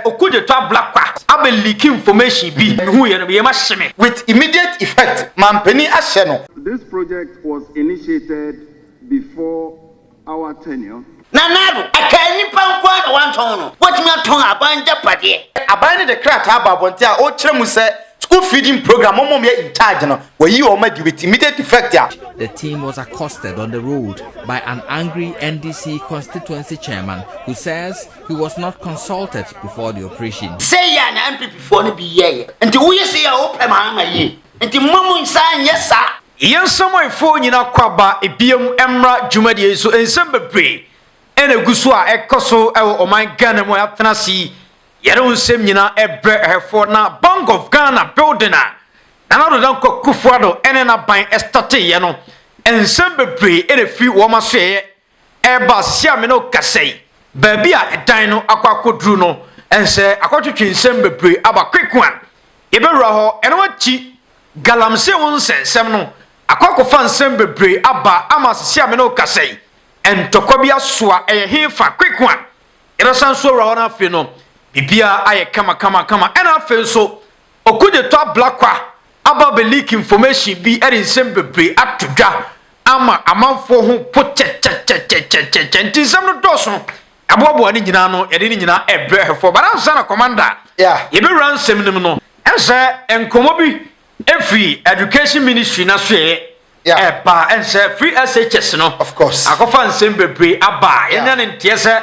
Oku de tɔ abla kwa abɛ leak information bi na mehu yɛ no me yam ahye me. With immediate effect manpanin ahyɛ no. This project was initiated before our tenure. Nana Addo, Ɛkaa nnipa nko ara na wɔantɔn no, wɔatumi atɔn aban agyapadeɛ. Aban no de krataa abɔ abɔnten a ɔrekyerɛ mu sɛ school feeding programme wɔn a wɔyɛ in charge no wɔayi wɔn adi with immediate effect a. The team was accosted on the road by an angry NDC constituency chairman who says He was not consulted before the operation. Sɛ yɛ a na MPP foɔ no bi yɛɛyɛ. Nti woyɛ sɛ yɛ a wopɛ Mahama yie. Nti mma mo nsa nyɛ saa. Yɛn nsamanfoɔ nyina kɔ aba biam mmra dwumadie yi so nsɛm bebree na ɛgu so a ɛkɔ so wɔ ɔman Ghana mu a yɛatena ase yi yɛde wo nsɛm nyina brɛ ɛhɛfoɔ na Bank of Ghana building a Nana Addo Dankwa Akufo-Addo ne n'aban starteeɛ no nsɛm bebree na ɛfiri wɔn asoɛeɛ Ɛreba Siame no kasɛi, baabi a ɛdan no akɔ akɔduru no, ɛnsɛ akɔtwetwe nsɛm bebree aba Kwekwan. Yɛbɛwura hɔ, ɛno akyi Galamsey ho nsɛnsɛm no akɔ akɔfa nsɛm bebree aba ama Siame no kasɛi, ntɔkwa bi asoa, ɛyɛ he fa, Kwekwan. Yɛbɛsan nso awura hɔ na afei no biribiara ayɛ kama kama kama, ɛna afei nso Okugyetɔ Ablakwa aba abɛliiki information bi de nsɛm bebree ato dwa ama amanfoɔ ho po kyɛkyɛkyɛkyɛkyɛkyɛ nti nsɛm no dɔɔso ɛboaboa ne nyinaa no yɛde ne nyinaa ɛbrɛ hwɛfoɔ but ansa na Commander yɛbɛwura nsɛm no mu no ɛnsɛ nkɔmmɔ bi ɛfiri Education Ministry no asoɛɛ ɛba ɛnsɛ firi SHS no akɔfa nsɛm bebree aba yɛnya ne nteɛ sɛ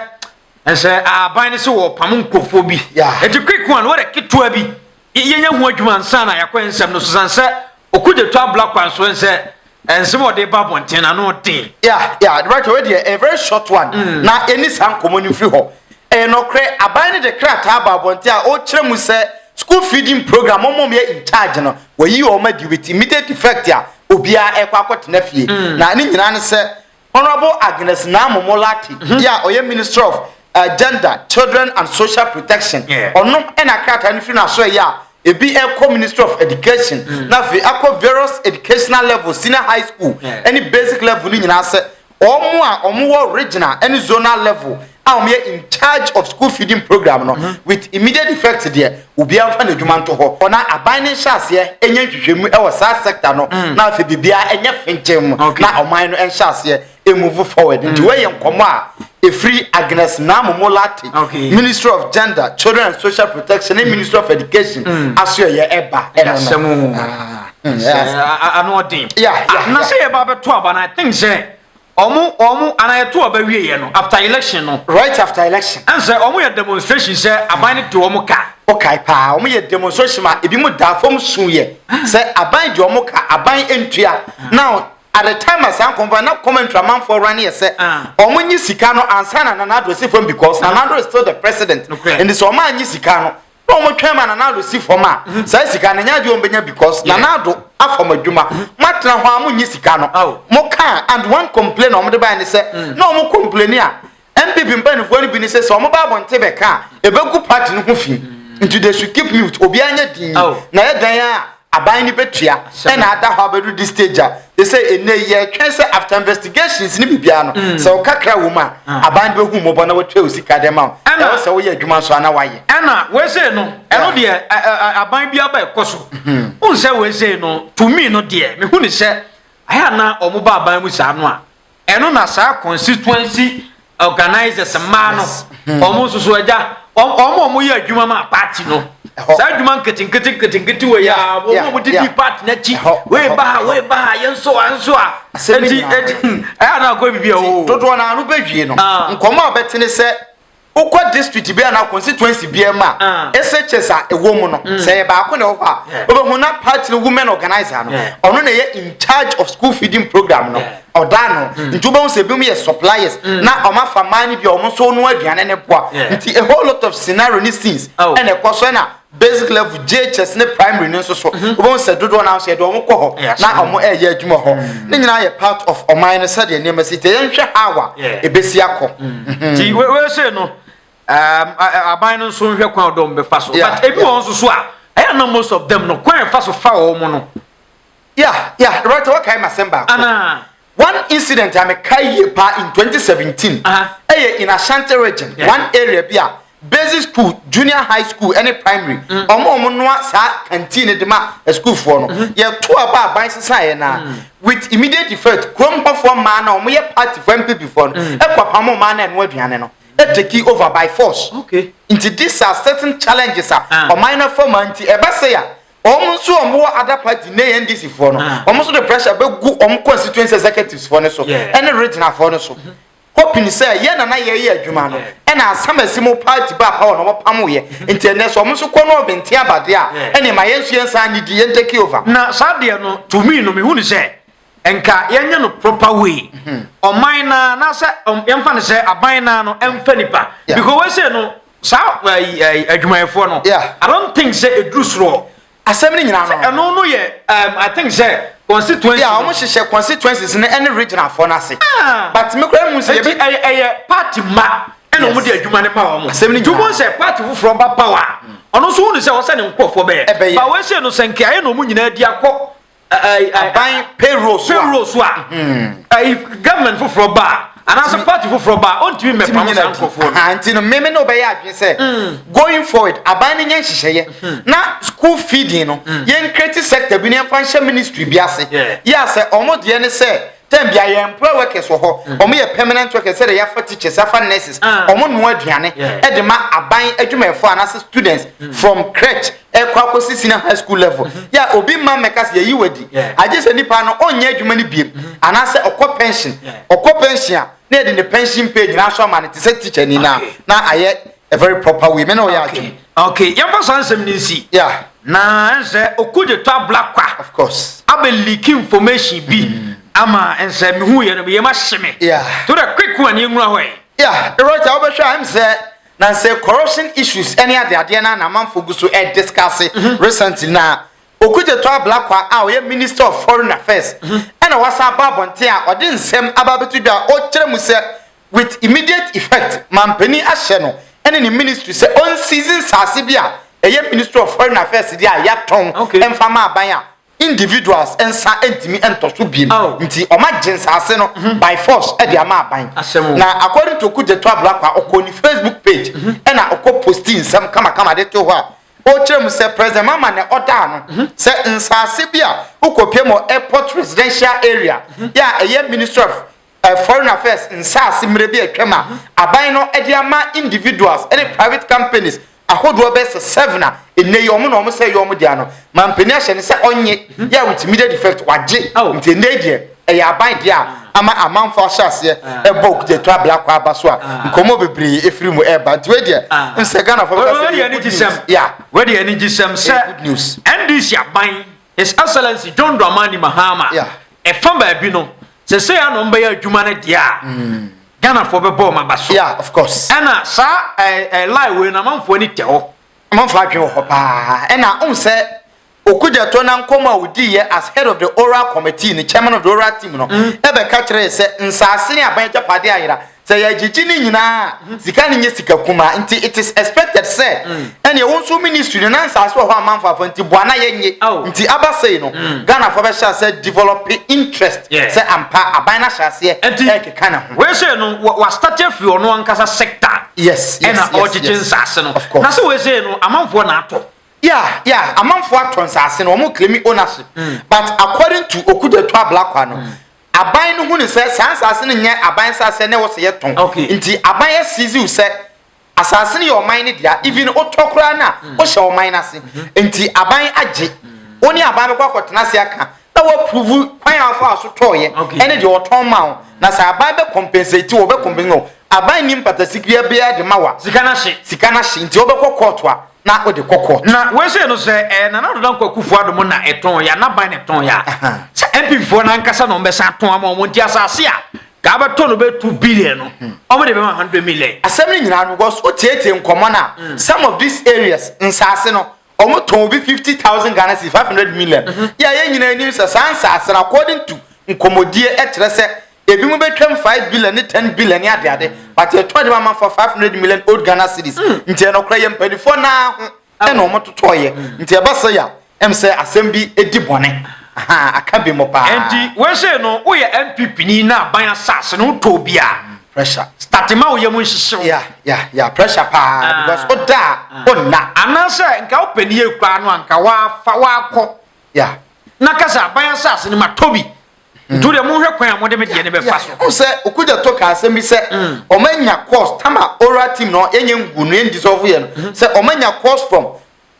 ɛnsɛ aban no sɛ wɔpam nkurɔfoɔ bi ɛti kweko a no wɔdɛ ketewa bi yɛnya ho adwuma nsa na yɛakɔ nsɛm no so san sɛ ɔkugye to abla kwan so ɛnsɛ ɛnsɛm a ɔde ba abɔnten na ano den ya ya de bɛtɔ deɛ a very short one mm. na ɛni saa nkɔmmɔ no mfiri hɔ ɛyɛ nɔkorɛ aban no de krataa ba abɔnten a ɔkyerɛ mu sɛ school feeding program ɔmɔ yɛ in charge no wɔyi wɔn adi with immediate effect a obiara ɛkɔ akɔtena fie mm. na ne nyinaa ne sɛ Honourable Agnes Naamu Molati deɛ a ɔyɛ Minister of Gender, Children and Social Protection, ɔno na krataa no firi n'asoɛeɛ a ebi rekɔ Ministry of Education na afei akɔ various educational levels, senior high school ne basic level no nyinaa sɛ wɔn a wɔwɔ regional ne zonal level a wɔyɛ in charge of school feeding program no mhm. with immediate effect deɛ obiara nfa n'adwuma nto hɔ ɔna aban ne nhyɛ aseɛ ɛnyɛ nhwehwɛmu ɛwɔ saa sector no mm. na afei biribiara ɛnyɛ fenkyɛn mu na ɔman no ɛnhyɛ aseɛ ɛmuvu forward nti mm. wɔyɛ nkɔmɔ a ɛfiri agnes namomo late ministry of gender children and social protection ne mm. ministry of education asoɛyɛ ɛba ɛno no ano ɔden na sɛ yɛba bɛto aba no i think sɛ Ɔmo ɔmo anaa yɛto aba wieɛ no after election no. Right after election. Ɛn sɛ ɔmo yɛ demonstration sɛ aban no di ɔmo ka. Wo kae paa ɔmo yɛ demonstration ma ebi mo daa fɔm suu yɛ sɛ aban di ɔmo ka aban ntua now at the time a saa nkɔmfɔ na commentary amanfoɔ run yɛ sɛ ɔmo nye sika no ansa na Nana Addo si fɔm because Nana Addo is still the president nti sɛ ɔmo anye sika no na wɔn twɛn ma Nana Addo si fam a, saa sika no nyɛ adeɛ wɔn bɛnya because Nana Addo afam adwuma. Mo atena hɔ a mo nyi sika no. Mo kaa and one complain a wɔn de baɛ ne sɛ na wɔn complaini a NPP mpaninfoɔ no bi ne sɛ sɛ wɔn ba abɔnten bɛka a ɛbɛgu party no ho fii nti they should keep mute obiara nyɛ dinn na yɛ dan a Aban no betua sɛ na ada hɔ abedu de stage a ɛsɛ ɛnɛ yi yɛtwɛn sɛ after investigations ne biribiara no mm. sɛ ɔkakra wɔ mu a ah. aban no bɛhu mmɔbɔ na wɔtua wo sika dɛ ma wo ɛwɔ sɛ woyɛ adwuma nso ana wayɛ ɛna wɔsei no ɛno deɛ aban bi aba ɛkɔ so mm-hmm. wohu sɛ wɔsei no tumi no deɛ mehu ne sɛ ayɛ na ɔmo ba aban mu saa no a Ɛno na saa constituency organizers mmaa no wɔn nso so agya wɔn wɔn a wɔyɛ adwuma ma party no saa adwuma nketenkete nketenkete wɔ yɛ a wɔn a wɔdidi party n'akyi wei ba ha wei ba ha yɛn nso a nso a eti eti ɛyɛ anaa kɔ bibi a o. dodoɔ naa no bɛ wie no ah. nkɔmɔ a bɛtene sɛ Wokɔ district bi anaa constituency bi mu a, SHS a ɛwɔ mu no, sɛ ɛyɛ baako na ɛwɔ hɔ a, wobɛhu na party no women organizer no, ɔno na ɛyɛ in charge of school feeding program no, ɔda ano. Nti wobɛhu sɛ ebinom yɛ suppliers na wɔafa mmaa no bi a wɔn nso wɔnoa aduane no boa. Nti a whole lot of scenario ne scenes na ɛkɔ so na basic level JHS ne primary no nso so mhm. wobɛhu sɛ dodoɔ no nso yɛde wɔn kɔ hɔ na wɔn ɛreyɛ adwuma hɔ mm. ne nyinaa yɛ part of ɔman no sɛdeɛ nneɛma si te yɛnhwɛ how a ɛbɛsi akɔ mm. mhm. nti wɛsɛ no um, aban no nso nhwɛ kwan ɔdɔm bɛfa so but ebi wɔn nso so a ɛyɛ na most of them no kwan ɛfa so fa wɔn no Yeah, yeah, Roberto, what kind of Semba? Anna. One incident I'm a Kaye pa in 2017. Uh-huh. Eye in Ashanti region, yeah. one area bia basic school, junior high school, any primary. Mm. Omo omo noa sa canteen de ma a school for no. Mm-hmm. Yeah, two about by society na. Mm. With immediate effect, krom ho for man na omo ye party for MP before no. Mm. E kwa pamo man na enwa aduane no. E take over by force. Okay. Into these are certain challenges a. Uh. Omo na for man ti e ba say ya. Wɔn nso wɔn wɔ other party ne yɛ NDC foɔ no ah. wɔn nso de pressure bɛ gu wɔn constituency executives foɔ no so ɛne regional foɔ no so hoping sɛ yɛ nana yɛ yɛ adwuma no ɛna asam asi mu party ba power na wɔn pam yɛ nti ɛnɛ so wɔn nso kɔ no ɔbɛnti abade a ɛna ma yɛn nso yɛn nsa ne di yɛn take over. na saa deɛ no to me no mehu ne sɛ nka yɛnyɛ no proper way mhm. ɔman na anaasɛ um, yɛmfa no sɛ aban na no ɛmfa nipa because wɔsɛ no saa eh, eh, adwumayɛfoɔ no i don't think sɛ ɛduru soroɔ asɛm no nyinaa no ɛno no yɛ um, i think sɛ constituency yà wɔn hyehyɛ constituencies no ɛne regional fɔ n'ase ah. but mi kura mu sɛ yɛbɛ ɛyɛ ɛyɛ party ma ɛna wɔn de adwuma ne ma wɔn asɛm no nyinaa tumu sɛ party foforɔ ba power ɔno nso wɔn sɛ ɔsɛ ne nkorɔfoɔ bɛyɛ ɛbɛyɛ ba wɔn ahyɛ no sɛ nkeayɛ na wɔn nyinaa di akɔ aban payroll so a payroll so a ɛyi hmm. government foforɔ ba anaasɛ party foforɔ ba ɔntumi mmɛpam saa nkurɔfoɔ no ah, nti no meme ne wobɛyɛ adwene sɛ hmm. going forward aban no nyɛ nhyehyɛeɛ hmm. na school feeding no yɛnkreti sector bi ne yɛmfa nhyɛ ministry bi ase yɛ a sɛ ɔmo deɛ ne sɛ tɛn bia yɛ employ workers wɔ hɔ ɔmo yɛ permanent workers sɛ de yɛafa teachers afa nurses ɔmo ah. noa aduane ɛde ma aban adwumayɛfoɔ anaasɛ students from crèche ɛkɔ akɔsi senior high school level mm-hmm. yɛ a obi mma mmɛka sɛ yɛyi wadi agye sɛ nipa no ɔnyɛ adwuma no biem mm-hmm. anaasɛ ɔkɔ pension ɔkɔ pension a na yɛde ne pension pay nyinaa so ama no te sɛ teacher ni na na ayɛ a very proper way mene ɔyɛ adwene okay yɛmfa saa nsɛm no nsi na ɛnsɛ ɔku de tɔ abla kwa of course abɛ leak information bi mm. ama ɛnsɛ mehu yɛ no meyɛ ma hye me to the quick one yɛnwura hɔ ɛ yeah right a wobɛhwɛ a ɛm sɛ Na sɛ corruption issues ne adeadeɛ no ara na amanfoɔ gu so rediscuss recently no a, Okudzeto Ablakwa a ɔyɛ Minister of Foreign Affairs na wasan aba abɔnten a ɔde nsɛm aba abɛto dwa a ɔkyerɛ mu sɛ with immediate effect manpanin ahyɛ no ne ne ministry sɛ ɔnseize nsaase bi a ɛyɛ Ministry of Foreign Affairs deɛ a yɛatɔn mfa ma aban a individuals nsa ntumi ntɔ so biem oh. nti ɔma gye nsaase no mhm. by force ɛde ama aban na according to kugyeto ablakwa ɔkɔ ne facebook page mhm. ɛna ɔkɔ posti nsɛm kamakama de to hɔ a ɔkyerɛ mu sɛ president mama na ɔdaa no mhm. sɛ nsaase bi a wokɔpie mɔ airport residential area yɛ a ɛyɛ ministry of Foreign Affairs nsaase mmerɛ bi a atwam a aban no de ama individuals ne private companies ahodoɔ bɛyɛ sɛ seven a ɛnnɛ yi wɔn na wɔn sɛ ɛyɛ wɔn dea no, manpanin ahyɛ no sɛ ɔnnye yɛ a with immediate effect wagye nti ɛnnɛ yi deɛ ɛyɛ aban dea a ama amanfoɔ ahyɛ aseɛ ɛbɔ okudeɛtu abla kɔ aba so a nkɔmmɔ bebree ɛfiri mu ɛreba nti wei deɛ nsɛ Ghanafoɔ bɛka sɛ ɛyɛ good news yeah wei deɛ anigyesɛm sɛ NDC aban His Excellency John Dramani Mahama, ɛfa baabi no, sɛ sɛ yɛ na ɔmbɛyɛ adwuma no deɛ a, mm. Ghanafoɔ bɛbɔ ɔma ba so. Yeah, of course. Ɛna saa ɛɛ ɛɛ lie wei na amanfoɔ ani tɛ hɔ. Amanfoɔ adwene wɔ hɔ paa. Ɛna ɔn sɛ Okudzeto na nkɔmɔ a odi yɛ as head of the oral committee, the chairman of the oral team no, ɛbɛka mm. kyerɛ sɛ nsaase ne aban agyapadeɛ ayera. Sɛ yɛgyegye ne nyinaa a, hmm. sika no nyɛ sika kumaa nti it is expected sɛ hmm. ɛneɛ wo nso ministry no na nsaase wɔ hɔ amanfo afa nti boa na yɛnye oh. nti aba sei no hmm. ghanafoɔ bɛhyɛ sɛ develop interest sɛ ampa aban no ahyɛ aseɛ ɛkeka ne ho wese no wastate afiri ɔno ankasa sector yes ɛna ɔgyegye nsaase no na sɛ wese no amanfoɔ na atɔ yeah yeah amanfoɔ atɔ nsaase no wɔn claim ownership but according to okudeto ablakwa no Aban no hunuu sɛ saa nsaase no nyɛ aban nsaase na ɛwɔ sɛ yɛtɔn. Okay. Nti aban asiziw sɛ asaase no yɛ ɔman no dea, even wotɔ koraa no a, mm. wohyɛ ɔman no ase. Mm-hmm. Nti aban agye. Mm. Wo ne aban bɛkɔ akɔtena ase aka na wɔapuruvu kwan a wɔfa so tɔɔyɛ ɛne deɛ wɔtɔn ma wo. Na sɛ aban bɛ compensate wɔ bɛ compensate no, aban nim patasikiriya biara de ma wa. Sika no ahye. Sika no ahye. Nti wɔbɛkɔ kɔɔto a, na ɔde kɔkɔ. Na wei sei no sɛ ɛyɛ Nana Ado Dankwa Akufo Addo mo na ɛtɔn ya, n'aban na ɛtɔn ya. Sɛ NPP foɔ no ankasa na wɔbɛsan atɔn ama wɔn nti asase a kaa bɛtɔ no bɛyɛ two billion no, hmm. wɔn de bɛma hundred million. Asɛm no nyinaa no because wotietie nkɔmɔ na hmm. some of these areas nsaase no wɔn tɔn obi fifty thousand Ghana cedis five hundred million. Hmm. Yɛ a yɛn nyinaa anim sɛ saa nsaase no according to nkɔmɔdie ɛkyerɛ sɛ Ebinom bɛtwam five billion ne ten billion ne adeade, but yɛtɔ de ma amanfoɔ five hundred million old Ghana cedis. Mm. Nti ɛnɔkorɛ yɛ mpanimfoɔ naa ho ɛna wɔn totɔɔyɛ. Mm. Nti ɛba sɛ ya ɛm sɛ asɛm bi edi bɔne. Aha aka bi mo paa. Nti wɛsɛ no woyɛ NPP ni na aban asase no wotɔ bi a. Pressure. Start ma wo yɛ mu nhyehyew. Ya ya ya pressure paa ah. because o da ah. o na. Anaasɛ nka o pɛ ni ekura no anka wa fa wa kɔ. Ya. Na kasa aban asase no ma tɔ bi. nti wodeɛ monhwɛ kwan a mode me deɛ ne bɛfa so wo sɛ okogya tɔ ka asɛm bi sɛ ɔma mm. nya course tama oral team no yɛnyɛ ngu no yɛndisɔfo yɛ no mm-hmm. sɛ ɔma nya course from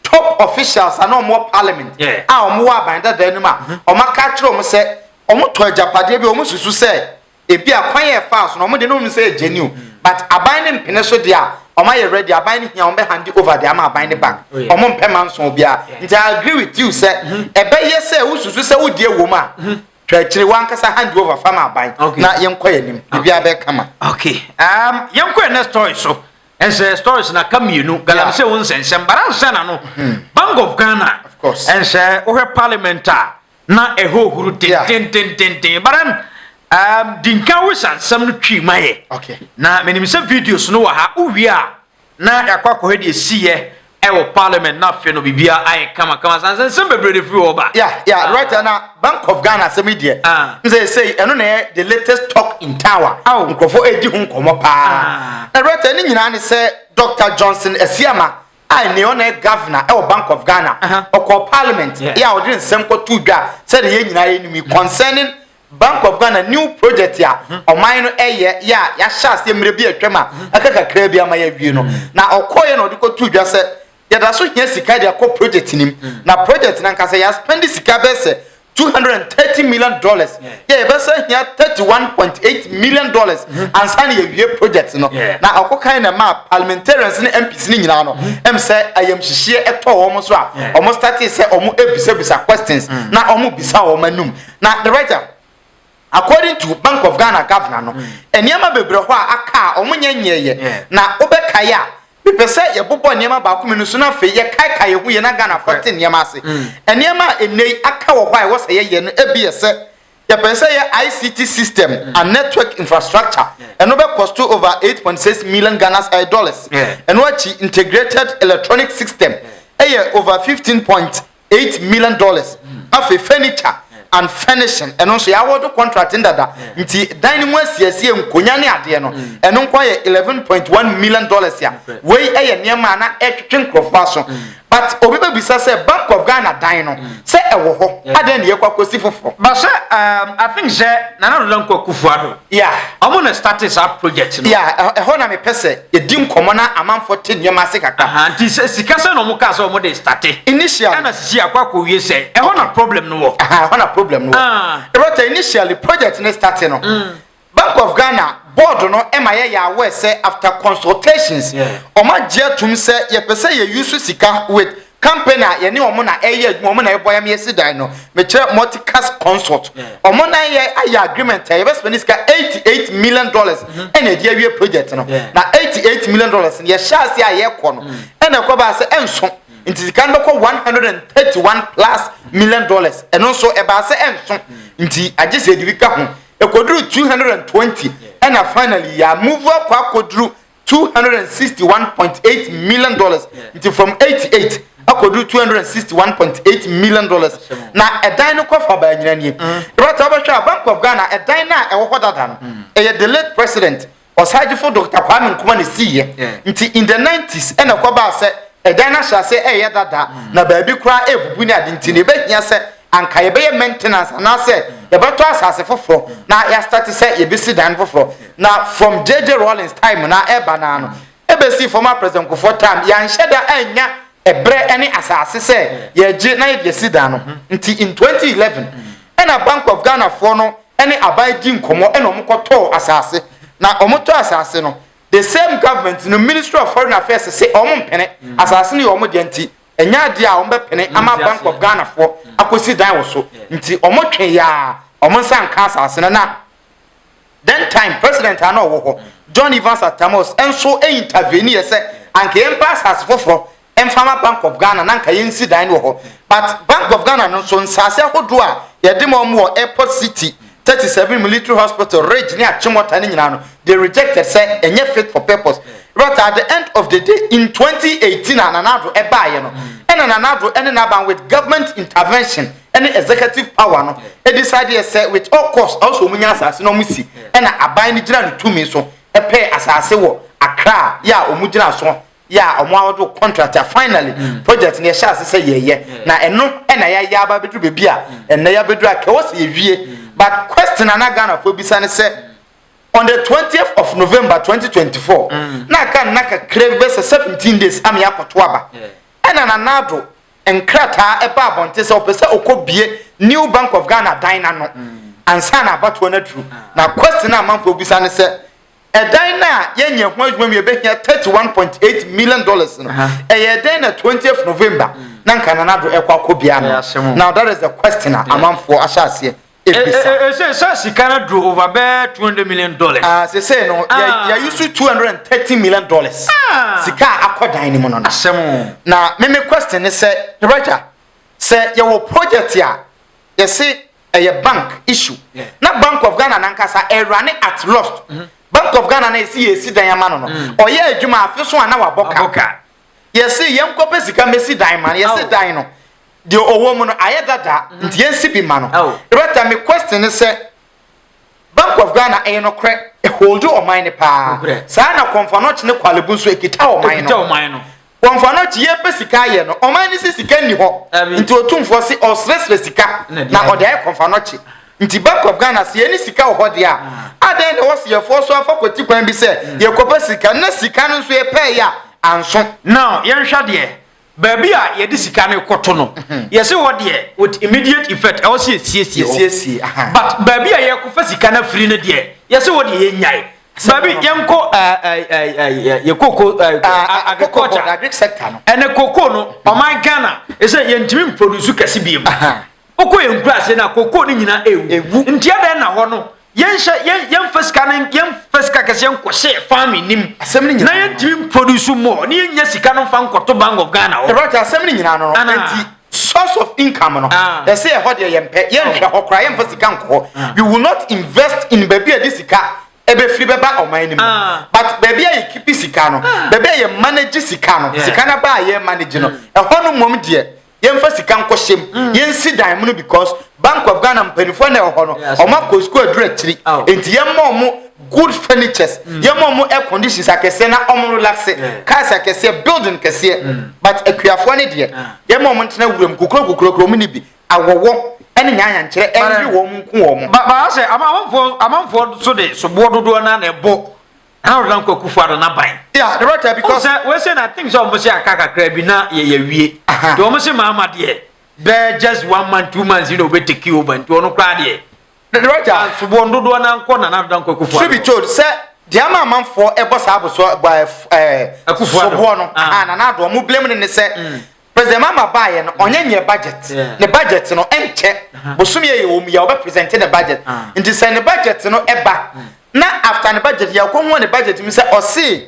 top officials ana ɔmowɔ parliament a ɔmowɔ aban dadaa no mu a mm-hmm. ɔmaka kyerɛ ɔm sɛ ɔmotɔ agyapadeɛ bi ɔmo susu sɛ ebi a kwan yɛ faa so na ɔmo de no ɔmo sɛ ɛgyɛ new mm. but aban ne mpene so deɛ a ɔmo ayɛ ready aban no hia ɔmo bɛ handi over de ama aban ne bank oh, ɔmo mpɛ ma nso obiara nti i agree with you sɛ mhm. ɛbɛyɛ sɛ wosusu sɛ wodi ewom a mhm. twa akyire wankasa handi over fama aban na yɛnkɔ yɛn nim biribiara bɛ kama. okay um, yɛnkɔ yɛn next story so ɛnsɛ stories na ka mmienu galamsey wo nsɛnsɛm baransa na no mhm. bank of ghana ɛnsɛ wohwɛ parliament a na ɛhohoro dendendendenden but then um, di nka wo hyɛ nsɛm no twi ma yɛ okay. na menim sɛ videos no wɔ ha wowie a na yɛakɔ akɔhwɛ deɛ ɛsiyɛ ɛwɔ parliament na afei no biribia ayɛ kamakama san sɛ nsɛm bebree de firi hɔ ba yeah, yeah, ah. right na bank of ghana asɛm yi deɛ ah. sɛ ɛsɛ ɛno na ɛyɛ the latest talk in tower oh. nkurɔfoɔ ɛdi ho nkɔmmɔ paa ah. na right ne nyinaa ne sɛ dr johnson asiama a nea ɔna yɛ governor ɛwɔ bank of ghana ɔkɔ parliament yɛ a ɔde nsɛm kɔto dwa sɛ deɛ yɛn nyinaa yɛnim yi concerning bank of ghana new project a ɔman no ɛyɛ yɛ a yɛahyɛ aseɛ mmerɛ bi atwam a ɛka kakraa bi ama yɛawie no na ɔkɔɔyɛ na ɔde kɔto dwa sɛ yɛda so hia sika de akɔ project nim na project no ankasa yɛaspɛnde sika bɛsɛ two hundred and thirty million dollars yɛ yɛbɛsɛ hia thirty one point eight million dollars mhm. ansa na yɛwie project no na ɔkɔ kan na ɛmaa parliamentarians ne mps ne nyinaa no mhm. ɛm sɛ ayamhyehyeɛ ɛtɔ wɔn so a wɔn starte sɛ wɔn ebisabisa questions mhm. na wɔn bisa wɔn anum na the writer according to bank of ghana governor no nneɛma bebree hɔ a aka a wɔn nyɛ nyɛɛyɛ na wɔbɛkae a. Mepɛ sɛ yɛbobɔ nneɛma baako mmienu so na afei yɛkaekae yɛn ho yie na Ghanafoɔ te nneɛma ase. Mm. Nneɛma a nnɛ yi aka wɔ hɔ a ɛwɔ sɛ yɛyɛ no, ebi yɛ sɛ yɛpɛ sɛ yɛ ICT system mm. and network infrastructure. Yeah. Ɛno bɛ cost over 8.6 million Ghana uh, dollars. Yeah. Ɛno akyi integrated electronic system ɛyɛ yeah. over 15 point eight million dollars afei furniture and furnishing ɛno nso yɛawɔdo contract no dada nti dan no mu asiesie nkonya ne adeɛ no ɛno nko ayɛ eleven point one million dollars a wei ɛyɛ nneɛma a na ɛtwetwe nkurɔfoɔ aso but obi bɛbisa sɛ bank of ghana dan no sɛ ɛwɔ hɔ adɛn ne yɛkɔ akɔsi foforɔ basɛ um, i think sɛ nana dodo nkɔ kufuado Yeah. Ɔmo na starte saa project no. Yeah, ɛh- ɛhɔ na mepɛ sɛ yɛdi nkɔmmɔ na amanfoɔ te nneɛma ase kakra. Aha, nti sɛ sika sɛ na ɔmo kaa sɛ ɔmo de starte. Initially, Ɛna sisi akɔ akɔwie sɛ, ɛhɔ na problem no wɔ. aha, ɛhɔ na problem no wɔ. Ah. Rota, initially, project no starte no, Bank of Ghana board no ɛma yɛyɛ aware sɛ after consultations, Yeah. ɔmo agye atum sɛ yɛpɛ sɛ yɛ use sika with Company a yɛne wɔn na ɛyɛ adwuma, wɔn na ɛbɔ yɛn ma yɛsi dan no, mekyerɛ Multicast Consult. Wɔn na yɛ ayɛ agreement a yɛbɛ spend sika eighty eight million dollars ɛna mm. ɛde awie project no. Na eighty eight million dollars no yɛhyɛ ase a yɛkɔ no mm. ɛna ɛkɔ baa sɛ ɛnso mm. nti sika no bɛkɔ one hundred and thirty one plus million dollars ɛno nso ɛbaa sɛ ɛnso nti agye sɛ ɛde bi ka ho ɛkɔduru two hundred and twenty ɛna finally yɛ move akɔ akɔduru two hundred and sixty one point eight million dollars nti from eighty eight akɔduru two hundred and sixty one point eight million dollars na ɛdan no kɔfa baa nyina nie ɛbɛta mm. wobɛhwɛ a bank of ghana ɛdan no a ɛwɔ hɔ dada no mm. ɛyɛ the late president ɔsagyefo dr kwame nkuma ne siiɛ nti in the nineties ɛna ɛkɔbaa sɛ ɛdan no ahyɛ ase ɛyɛ dada mm. na baabi koraa ɛbubu ne ade nti ne ɛbɛhia sɛ anka yɛbɛyɛ maintenance anaasɛ yɛbɛtɔ asase foforɔ na yɛastate sɛ yɛbɛsi dan foforɔ na from JJ Rawlings time na ɛba naa no ɛbɛsi former President Kufuor time yɛanhyɛ da annya ɛberɛ ne asase sɛ yɛregye na yɛde asi dan no nti in 2011 ɛna Bank of Ghana foɔ no ne aban di nkɔmmɔ ɛna wɔn kɔtɔɔ asase na wɔn tɔ asase no the same government no ministry of foreign affairs se wɔn mpene asase no yɛ wɔn deɛ nti ɛnyɛ adeɛ a wɔbɛpene ama bank of ghanafoɔ akɔsi dan wɔ so nti wɔtwe yɛa wɔn nsa nka asase no na then time president a na ɔwɔ hɔ john evans atamos nso intervene yɛ sɛ anka yɛmpa asase foforɔ mfa ma bank of ghana na anka yɛnsi dan no wɔ hɔ but bank of ghana no nso nsase ahodoɔ a yɛde ma wɔn wɔ airport city thirty seven military hospital rage ne akyemɔta no nyinaa no they rejected sɛ ɛnyɛ fit for purpose but at the end of the day in twenty eighteen a Nana Addo ɛbaayɛ no ɛna Nana Addo ɛne n'aban with government intervention ɛne executive power no ɛdecide yɛ sɛ with all cost ɔwɔ sɛ wɔn nya asase na wɔn si ɛna aban no gyina ne tumi so ɛpɛɛ asase wɔ Accra yɛ a wɔn gyina so yɛ a ɔmo awɔde wo contract a finally mm. project no yɛhyɛ ase sɛ yɛyɛ mm. na ɛno ɛna yɛayɛ aba abɛduru baabi a mm. ɛnna yɛabɛduru a kɛwɔ sɛ yɛwie mm. but question ana ghanafoɔ bisa ne sɛ on the twentieth of november twenty twenty four mm. na aka nna kakra bi bɛsɛ seventeen days ama yɛakɔto aba ɛna nanado nkrataa ɛba abɔnten sɛ ɔpɛ sɛ ɔkɔ bie new bank of ghana dan n'ano mm. ansa na abatoɔ no aduru ah. na question a amanfoɔ bisa ne sɛ Ɛdan no a yɛnyɛ ho adwuma mu yɛbɛhia thirty one point eight million dollars no, ɛyɛɛ dɛn na twentieth November na anka Nana Addo rekɔ akɔbea no? Now that is the question a amanfoɔ ahyɛ aseɛ ebisa. Ɛsɛ sɛ sika no aduru over bɛyɛ two hundred million dollars. Ah, sese no yɛ yɛ yusu two hundred and thirty million dollars. Sika a akɔ dan no mu no. Asɛm o. Na me me question ne sɛ, Director, sɛ yɛwɔ project a yɛse Ɛyɛ bank issue na bank of Ghana nankasa ɛrane at lost. Bank of Ghana na yɛsi yɛresi dan ama no no, ɔyɛɛ adwuma afe so a na wabɔ ka. Yɛse yɛnkɔ pɛ sika mmɛsi dan ma no, yɛse dan no deɛ ɔwɔ mu no ayɛ dada nti yɛnsi bi ma no. Director me question ne sɛ, Bank of Ghana ɛyɛ nokorɛ ɛholdi ɔman no paa saa na Komfo Anokye ne Korle Bu nso ɛkita ɔman no. Wɔmfa no akyi, yɛpɛ sika ayɛ no. Ɔman no se sika nni hɔ, nti Otumfoɔ se ɔresrɛsrɛ sika na ɔde ayɛ Kɔmfanɔkye. Nti Bank of Ghana se yɛne sika wɔ hɔ deɛ a, adɛn na ɛwɔ se yɛfoɔ so afa kwati kwan bi sɛ yɛrekɔpɛ sika na sika no nso yɛpɛɛe a anso? Now, yɛnhwɛ deɛ, baabi a yɛde sika no rekɔto no, yɛse hɔ deɛ with immediate effect ɛwɔ se yɛsiesie hɔ, but baabi a yɛrekɔfa sika no afiri no deɛ, yɛse hɔ deɛ yɛnnyae. Baby, yɛnkɔ yɛ koko agriculture agric sector no ɛnɛ koko no ɔman Ghana ɛsɛ yɛntumi mproduce kɛse biem wokɔ yɛn nkura ase na koko no nyinaa ɛwu nti ɛdɛn na hɔ no yɛnhyɛ yɛmfa sika no yɛmfa sika kɛse yɛnkɔhyɛ farming nim na yɛntumi mproduce more ne yɛnya sika no mfa nkɔto bank of Ghana hɔ ɛbrɛte asɛm no nyinaa no nti source of income no ah. ɛsɛ ɛhɔ deɛ yɛmpɛ yɛnhwɛ hɔ koraa yɛmfa sika nkɔ hɔ ah. we will not invest in baabi a ɛde sika ɛbɛfiri bɛba ɔman no mu ah. but baabi a yɛkipi sika no baabi a yɛ manage sika no sika no ba a yɛ manage no mm. ɛhɔ no mmom deɛ yɛmfa sika nkɔhyɛ mu mm. yɛnsi dan mu no because Bank of Ghana mpanyinfoɔ na ɛwɔ hɔ no, wɔn akɔ sukuu aduru akyiri, nti yɛn mma wɔn good furnitures, yɛn mma wɔn air conditions akɛseɛ na wɔn relaxe, cars akɛseɛ, building kɛseɛ, but akuafoɔ ne deɛ, yɛn mma wɔn ntena wuram kukuro kukuro kuro wɔn ni bi, awɔwɔ ɛne nyanyankyerɛ ɛnwi wɔn nko wɔn. Ba ba asɛ amanfoɔ amanfoɔ so de soboɔ dodoɔ naa na ɛbɔ how na nkɔ kufu ado na ban. Yeah, the right because. Sɛ wɔn sɛ na think sɛ wɔn sɛ aka kakra bi na yɛ yɛ wie, de wɔn sɛ maama deɛ. bɛɛ just one month two months na obe take over nti ɔno koraa deɛ. ne wagya nsoboɔ ndodoɔ na nkɔ nana adoda nkɔ akufo truth be told sɛ deɛ ama amanfoɔ ɛbɔ saa abosoɔ ɛbɔ ɛɛ eh, Akufo Addo. soboɔ no Ah. ah nana adoɔ mo blame no ne sɛ president mama baayɛ no ɔnyɛ nyɛ budget Yeah. ne budget no ɛnkyɛ bosom yɛ yɛ wɔm yɛ ɔbɛ present ne budget Ah. nti sɛ ne budget no ɛba na after ne budget yɛ ɔkɔ ho wɔ ne budget mu sɛ ɔse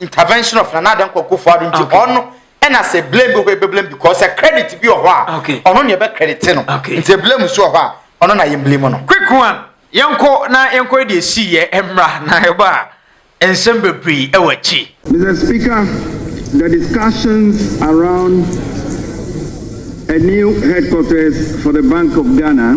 intervention of nana adan kɔ kofo ado nti ɔno ɛna sɛ blame bi hɔ ebe blame because sɛ credit bi wɔ hɔ a ɔno na ɛbɛ credit no nti blame so wɔ hɔ a ɔno na yɛn blame no. quick one yɛnkɔ na yɛnkɔ de esi yɛ mmra na ɛba a nsɛm bebree ɛwɔ akyi. Mr. Speaker, the discussions around a new headquarters for the Bank of Ghana.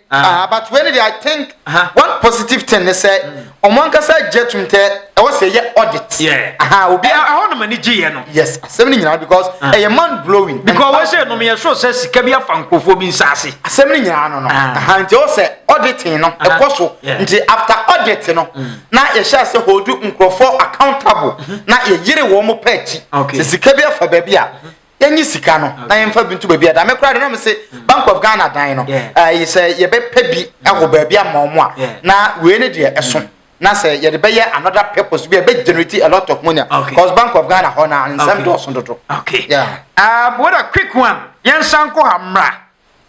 Ah, but wei ni deɛ I think one positive thing ne sɛ ɔmo mm. ankasa gye tum tɛ ɛwɔ sɛ yɛ audit. Aha obi a ɛhɔ nom ani gye yɛ no. Yes asɛm ni nyinaa because ah. ɛyɛ man blowing. Because wɔn sɛ nom yɛ sɔ sɛ sika bi afa nkurɔfoɔ bi nsaase. Asɛm ni nyinaa no no ah. aha nti ɛwɔ sɛ auditing no ɛkɔ so nti after audit no mm. na yɛhyɛ ase holdu nkurɔfoɔ accountable mm-hmm. na yɛyere wɔn pɛ akyi sɛ sika bi afa baabi a. Mm-hmm. yɛnyi sika no na yɛmfa bi nto baabi a dame koraa de na me se bank of ghana dan no ɛyɛ sɛ yɛbɛpɛ bi ɛwɔ mm. baabi ama ɔmo a na wei ne deɛ ɛso mm. na sɛ yɛde bɛyɛ another purpose bi a ɛbɛ generate a lot of money okay. cause bank of ghana hɔ na nsɛm dɔɔso dodo. okay yeah. uh, what a quick one yɛn san kɔ ha mmra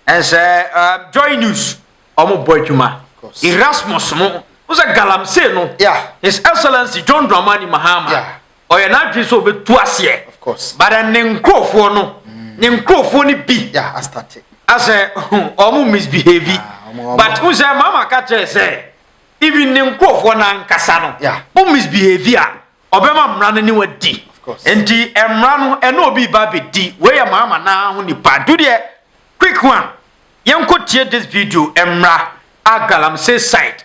ɛnsɛ uh, uh, joy news ɔmo bɔ adwuma erasmus mo wosɛ galamsey no yeah. his excellency john dramani mahama. Yeah. ɔyɛ n'adwene sɛ ɔbɛtu aseɛ but ne nkurɔfoɔ no ne nkurɔfoɔ no bi asɛ ɔmo misbehave but n sɛ mama ka kyerɛ sɛ even ne nkurɔfoɔ no ankasa no wo misbehave a ɔbɛma mmara no ne wadi nti mmara no ɛne obi ba bɛdi wei yɛ mama naa ho nipa du deɛ quick one yɛnkɔ tie this video mmara agalamsey side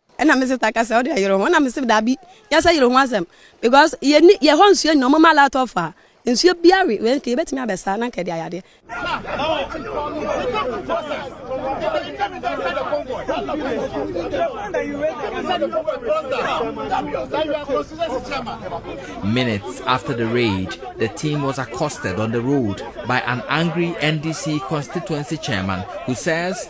ɛna me sista kasa ɔde ayere ho ɛna me sɛ daabi yɛsɛ yere ho asɛm because yɛni yɛ hɔ nsuo nyina ɔmo ma lot of a nsuo bia we wɛn kɛ yɛbɛtumi abɛsa na nkɛ de ayadeɛ. Minutes after the raid, the team was accosted on the road by an angry NDC constituency chairman who says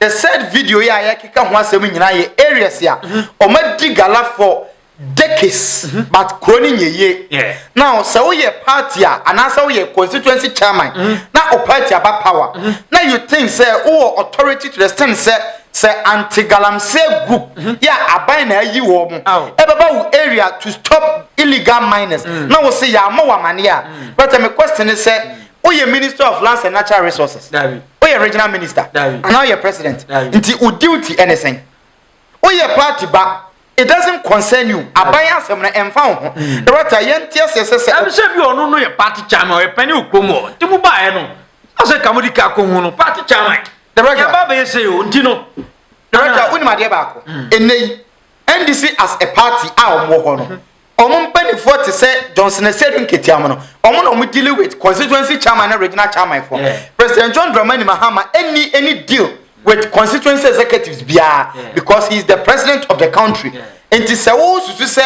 The said video yi a yɛkeka ho asɛm nyinaa yɛ areas a wɔadi gala for decades but kuro no nyɛ yie na sɛ woyɛ party a anaasɛ woyɛ constituency chairman na o party aba power na you think sɛ wowɔ authority to the extent sɛ sɛ anti galamsey group yɛ aban na ayi wɔ mo ɛbɛba wo area to stop illegal miners na wo se yɛamɔ wɔ amaneɛ a bɛtɛ me question ne sɛ woyɛ minister of lands and natural resources Woyɛ regional minister anaa woyɛ president nti wo duty ɛne sɛn? Woyɛ party ba it doesn't concern you aban asɛm no ɛmfa wo ho hmm. ɛwata yɛnte aseɛ sɛ sɛ ɛbisɛ bi ɔno no yɛ party chairman ɔyɛ pɛne wo kurom hɔ nti mo baeɛ no ɔsɛ ka mode ka kɔ ho no party chairman yɛba bɛyɛ sɛ o nti no director wonim adeɛ baako hmm. ɛnɛ yi NDC as a party a wɔwɔ hɔ no hmm. Wɔn mpanimfoɔ te sɛ Johnson Asiedu Nketiaho no, wɔn na wɔn dealing with constituency chairman ne regional chairman foɔ. Yeah. President John Dramani Mahama any any deal with constituency executives biara yeah. because he is the president of the country. Yeah. Nti sɛ wo susu sɛ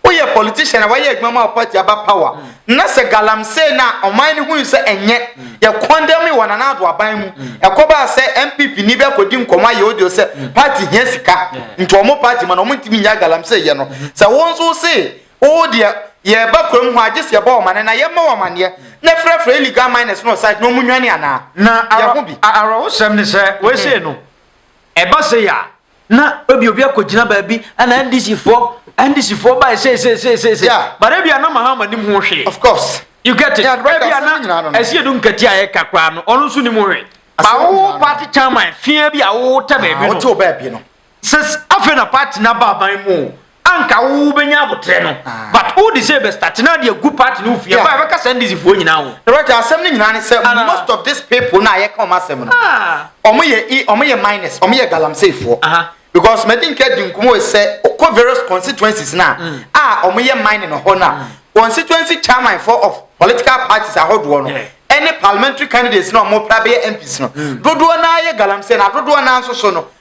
woyɛ politician a wayɛ adwuma ma party aba power mm. na sɛ galamsey no a ɔman no hui sɛ ɛnyɛ yɛ kɔndɛm yi wɔ Nana Addo aban mu. Ɛkɔbaa sɛ NPP ni bi akɔdi nkɔmmɔ ayɛ audio sɛ party hia sika nti wɔn party ma no wɔn ntumi nnyae galamsey yɛ no. Sɛ wo nso wo se wo deɛ yɛreba kurom hɔ a gye sɛ yɛbɔ wo amane na yɛmma wo amaneɛ na frɛfrɛ illegal miners no wɔ site na wɔn nnwane anaa? Na yɛ ho bi. awerɛhosɛm ne sɛ wei sei no ɛba sei a na ebi obi akɔgyina baabi ɛna ndc foɔ ndc foɔ ba ɛsɛ ɛsɛ ɛsɛ ɛsɛ ɛsɛ but ebi ana mahama nim ho hwee of course you get it ebi ana ɛsi edu nkɛtɛ a yɛ kakra no ɔno nso nim ho hwee bawo party chairman fie bi a wowo tɛ baabi no wote baabi no sɛ afei na party na ba aban mu anka wo wo bɛnya abotrɛ no ah. but wo de sɛ bɛstate na de agu party no fie ɛba ɛbɛka saa ndisifoɔ nyinaa ho ɛbɛtɛ asɛm no nyinaa ne sɛ most of these people na yɛka ɔm asɛm no ah. ɔmo yɛ e ɔmo yɛ minus ɔmo yɛ galamseyfoɔ because mɛdi nka di nkɔmɔ sɛ ɔkɔ various constituencies na mm. a ah, ɔmo yɛ mining no hɔ na mm. constituency chairman for of political parties ahodoɔ no ɛne parliamentary candidates na ɔmo pra bɛyɛ mps no mm. dodoɔ naa yɛ galamsey na dodoɔ naa nso so no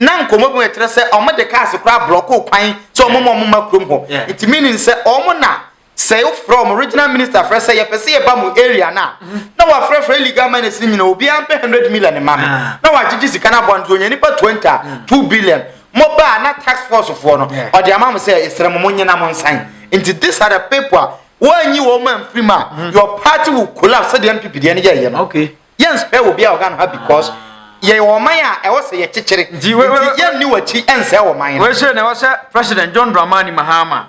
na nkɔmmɔ bi mu ɛkyerɛ sɛ wɔn de cars koraa blɔko kwan sɛ wɔn ma wɔn ma kurom hɔ nti meaning sɛ wɔn na sɛ wofrɛ wɔn regional minister frɛ sɛ yɛpɛ sɛ yɛba mu area no a na wɔafrɛfrɛ illegal miners no nyina obiara mpɛ hundred million ma me ah. na wɔagyegye sika no aboa no nti ɔnya nipa twenty a mm. two billion mobaa na tax force foɔ no ɔde ama mo sɛ ɛsrɛ mo mo nyina mo nsan nti this are the people a wɔanyi wɔn ma mfiri mu a mm. your party will collapse sɛdeɛ mpp deɛ no yɛyɛ no. Okay. Yɛn nsɛe obi a ɔga no ha because yɛyɛ wɔ ɔman a ɛwɔ sɛ yɛkyekyere nti yɛnni w'akyi nsɛe ɔman no. Wei sɛ na ɛwɔ sɛ President John Dramani Mahama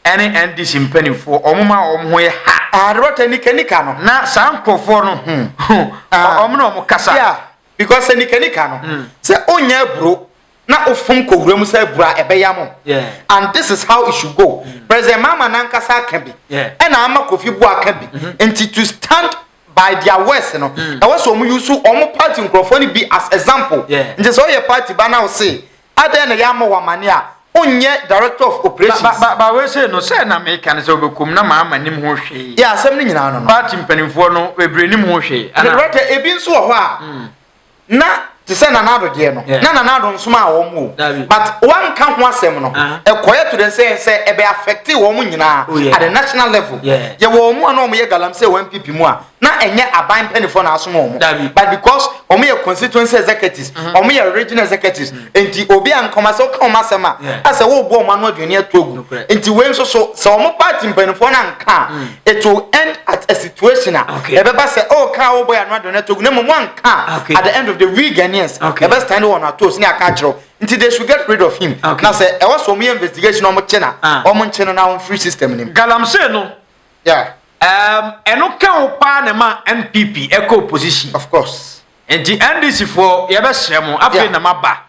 ɛne NDC mpanimfoɔ wɔn ma wɔn ho yɛ ha. Ah, the water nika nika no. Na saa nkurɔfoɔ no ho wɔn na wɔn kasa. Yeah, because nika nika no. Hmm. Sɛ onyɛ aburo na ofom kɔ wura mu sɛ bura a ɛbɛyam o and this is how it should go president mahama nankasa aka bi ɛna ama kofi boa aka bi mm-hmm. nti to stand by their words no mm. ɛwɔ sɛ wɔn yusu wɔn party nkurɔfoɔ no bi as example nti sɛ ɔyɛ party ba na ɔse adɛn na yɛama wɔn amane a onyɛ director of operations. ba ba ba wei sɛ no sɛ na meka no sɛ ɔbɛkɔm na maa ma nim ho hwee. yɛ asɛm no nyinaa no no. party mpanimfoɔ no bebree nim ho hwee. director ebi nso wɔ hɔ a. Hmm. na te sɛ nana ado deɛ no na nana ado nsoma a wɔn o but wanka ho asɛm no ɛkɔyɛ to dɛ sɛ sɛ ɛbɛ affecte wɔn nyinaa oh, at the national level yɛ wɔn mu a na wɔn yɛ galamsey wɔn npp mu a na ɛnyɛ aban mpanyinfoɔ na asom wɔn but because wɔn yɛ constituency executives wɔn mm-hmm. yɛ regional executives mm-hmm. nti obi a nkɔma sɛ ɔka wɔn asɛm a asɛ wɔrebɔ wɔn ano aduane ato agu nti wei nso so sɛ wɔn party mpanyinfoɔ na nka mm. it will end at a situation a ah, ɛbɛba sɛ oh kaa wo bɔ yɛ ano adɔ na togu na mmom wanka ah, at the end of the we Ghanaians ɛbɛ stand wɔn ato so ne aka akyerɛw nti they should get rid of him na sɛ ɛwɔ so wɔn yɛ investigation na wɔn kye na ah. wɔn nkye no na wɔn free system nim. galamsey no ɛno ka wo paa na ma npp ɛkɔ opposition. of course. nti ndc foɔ yɛbɛhyɛ mo afei na ma ba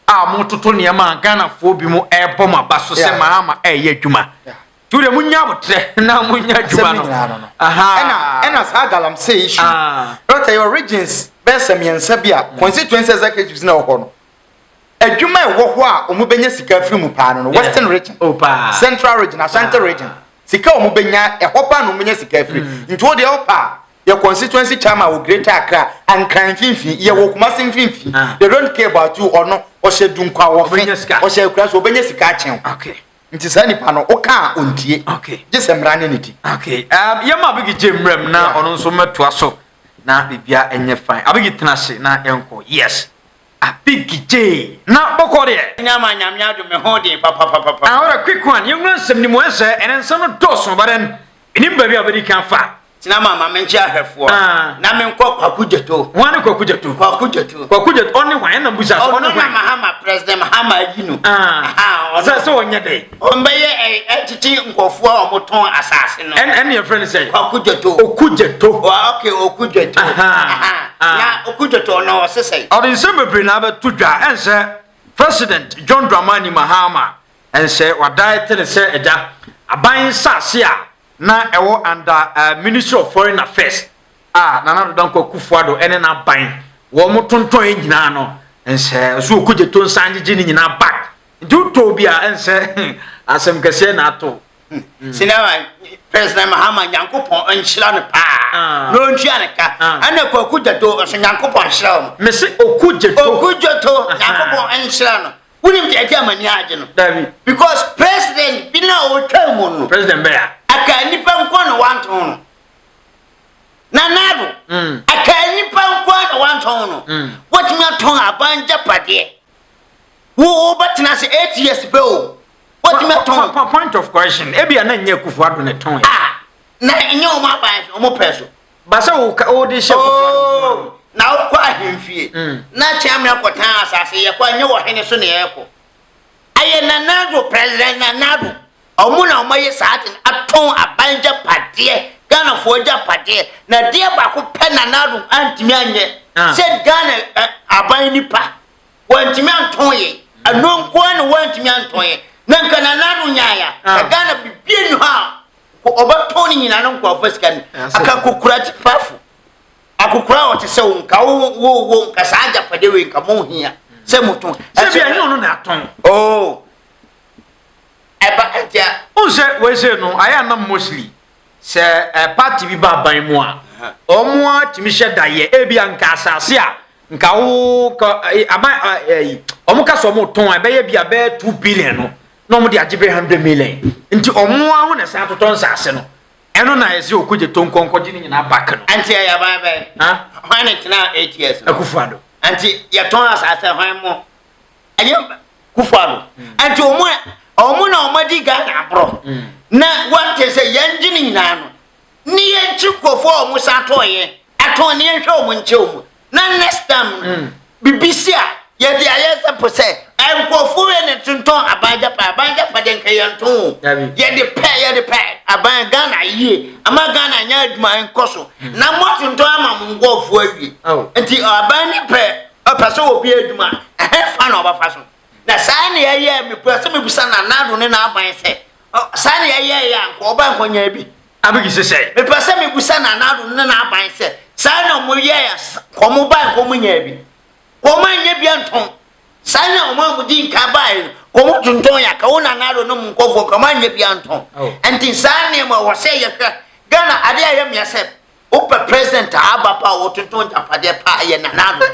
a mototo nneɛma a ghanafoɔ bi mu ɛrebɔ mo aba so sɛ maa ma ɛreyɛ adwuma. Yeah. Ture mu nya abotrɛ na mu nya adwuma no. Ɛna ɛna saa galamsey issue. Ah. Dɔkta yɛ regions bɛyɛ sɛ mmiɛnsa bi a constituency executives na ɛwɔ no. Adwuma ɛwɔ hɔ a wɔn bɛnya sika afiri mu paa no no western region. Oh paa. Central region, Ashanti ah. region. Sika wɔn bɛnya ɛhɔ paa na wɔn bɛnya sika afiri. Mm. Nti o deɛ ɛwɔ paa yɛ constituency chairman wɔ greater accra ankran mfimfini yɛ wɔ kumasi mfimfini ah. they don't care about you ɔno ɔhyɛ dunkwa wɔfe ɔhyɛ akura so ɔbɛnya sika akyɛn. Okay. nti saa nipa no woka a ɔntie gye sɛ mmara ne ne di um, yɛma abigi gye mmerɛm na ɔno nso mmɛtoa so na biribia ɛnyɛ fine abigi tena ase na yɛnkɔ yes abigi gye na bɔkɔ deɛ nyama nyame ado me ho den papapapapa ahora quick one yɛnwura nsɛm ni mu ɛsɛ ɛnɛ nsɛm no dɔɔso baden menim baabi a wobɛdi kan fa Tena ma ma menkye ahwɛfoɔ. Na menkɔ Kwaku Gyeto. Hwan ne Kwaku Gyeto? Kwaku Gyeto. Kwaku Gyeto ɔne hwan? Ɛna mbusa so ɔne hwan? Ɔno na Mahama President Mahama ayi no. Sɛ sɛ ɔnyɛ dɛ. Ɔmbɛyɛ ɛtete nkɔfoɔ a wɔtɔn asase no. Ɛna ɛna yɛfrɛ no sɛ. Kwaku Gyeto. Oku Gyeto. Ok Oku Gyeto. Na Oku Gyeto no ɔse sɛ. Ɔde nsɛm bebree na abɛto dwa ɛnsɛ President John Dramani Mahama ɛnsɛ wadae te ne sɛ agya aban nsase a na ɛwɔ under uh, Ministry of Foreign Affairs a Nana Addo Dankwa Akufo-Addo ne n'aban wɔn tontɔn yɛ nyinaa no nsɛ so okogye to nsan gyegye ne nyinaa back nti wotɔ bi a ɛnsɛ asɛm kɛseɛ na ato sinama president mahama nyankopɔn nhyira no paa ah. na ɔntua ne ka ah. ɛna kwaku gyato nso nyankopɔn nhyira wo mese oku gyato oku gyato ah. nyankopɔn nhyira no wonim deɛ ɛde amani agye no dabi because president bi na ɔtwa mu no president bɛya aka nipa nkɔ na wantɔn no na nado mm. aka nipa nkɔ na wantɔn no mm. wɔtumi atɔn aban gyapadeɛ wo wobɛtena ase eight years pɛ o wɔtumi atɔn point of correction ebi a na nyɛ kufu ado ne tɔn yɛ ah, na nyɛ wɔn aban wɔn pɛ so ba sɛ wode hyɛ kokoa no nko ara no. na wokɔ ahemfie na kyeame akɔtan asase yɛkɔ a ɛnyɛ wɔhene so na yɛkɔ ayɛ nanado president nanado ɔmo na ɔmo ayɛ saa ade no atɔn aban gyapadeɛ ghanafoɔ gyapadeɛ na deɛ baako pɛ nanado antumi anyɛ sɛ ghana aban nipa wɔntumi antɔn yɛ ɛno nkoa na wɔntumi antɔn yɛ na nka nanado nyaaya na ghana bibie ni hɔ a Wɔbɛtɔn ne nyinaa no nkurɔfoɔ sika no aka kokura kyipafo akokora a ɔte sɛ wo nka wo wo nka saa agyapade wei nka mo hia sɛ motɔn sɛ bia ne ɔno na atɔn oh ɛba ɛtia o sɛ wɔsɛ no ayɛ anam mostly sɛ eh, party bi ba aban mu a ɔmo a tumi hyɛ da yɛ ebi a nka asase a nka wo ka eh, aban eh, ɔmo ka sɛ ɔmo tɔn a ɛbɛyɛ bi a bɛyɛ two billion no na wɔn de agye bɛyɛ hundred million nti wɔn ara ho na ɛsan totɔ nsaase no ɛno na ɛsɛ okogye to nkɔnkɔgye ne nyinaa back no. Nti ɛyɛ aban bɛn? Hwan na ɛgyina eight years no? Akufo-Addo. Nti yɛtɔn asaase hwan mo? Ɛyɛ Kufo-Addo. Hmm. Nti wɔn a wɔn na wɔn adi Ghana aborɔ hmm. na wɔte sɛ yɛn gye ne nyinaa no ne yɛn kyi nkurɔfoɔ a wɔn san tɔn yɛn atɔn ne yɛn hwɛ wɔn nkyɛn wɔn na next time no mm. bibi si a yɛde ayɛ sɛ po sɛ nkurɔfo yɛ ne tontɔn aban gyapa aban gyapa de nka yɛn to o yɛde pɛ yɛde pɛ aban ghana yie ama ghana nyɛ adwuma nkɔ so mm. na mo atontɔn ama mo nkurɔfo awie nti aban ne pɛ ɔpɛ sɛ obi adwuma ɛhɛn fa na ɔbɛfa so na saa na yɛyɛ mepɛ sɛ mebisa na nado ne n'aban sɛ saa na yɛyɛ yɛ a nka ɔba nkɔnyɛ bi Abigi se sɛn? Mepɛ sɛ mebisa Nana Addo ne n'aban sɛ, saa na wɔyɛɛ a wɔbae no wɔnyaa bi? Wɔannya bi antɔn? Saa na wɔn a wɔdii nkan bae no wɔtontɔn yɛ aka? Wo Nana Addo ne mo nkɔfoɔ nka wɔannya bi antɔn? Nti saa nneɛma ɛwɔ sɛ yɛhwɛ. Ghana adeɛ a ɛyɛ mea sɛ wopɛ president a aba paa a ɔtontɔn agyapadeɛ paa ɛyɛ Nana Addo.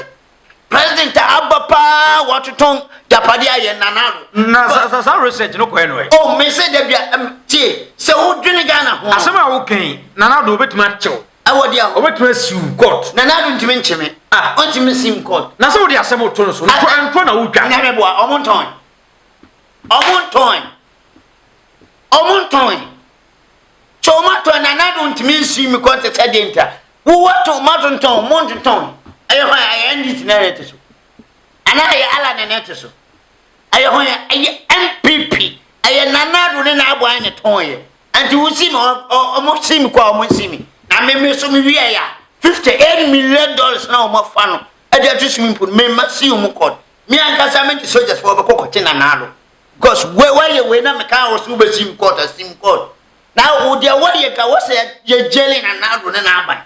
President a aba paa wɔtotɔn japade a yɛ nana no. Na sa sa research no kɔɛ no ɛ. Oh me se dabi a tie sɛ wo dwene Ghana ho. Asɛm a wo kɛn nana do obetumi akyew. Ɛwɔ deɛ o. Obetumi asiw court. Nana do ntumi nkyeme. Ah. Ontumi sim court. Na sɛ wode asɛm to no so no kɔ ɛntɔ na wotwa. Nyame boa ɔmo ntɔn. Ɔmo ntɔn. Ɔmo ntɔn. Sɛ ɔmo atɔn nana do ntumi nsim court sɛ deɛ ntia. Wo wɔ to ma to ntɔn mo ntotɔn ɛyɛ hwan ɛyɛ NDC na ɛte so anaa ɛyɛ Allah na ɛte so ɛyɛ hwan ɛyɛ NPP ɛyɛ Nana Addo ne n'abo ayɛ ne tɔn yɛ nti wo si mi ɔmo si mi kɔ ɔmo si mi na me me so me wi ɛyɛ fifty eight million dollars na ɔmo afa no ɛde ato swimming pool me ma si ɔmo kɔ me ankasa me de soldiers fo ɔbɛkɔ kɔte Nana Addo because wei wayɛ wei na me kan wɔ so wobɛsi mi kɔɔt asi mi kɔɔt Na wo deɛ wɔ yɛ ka wɔ sɛ yɛ gyeli na nado ne n'aban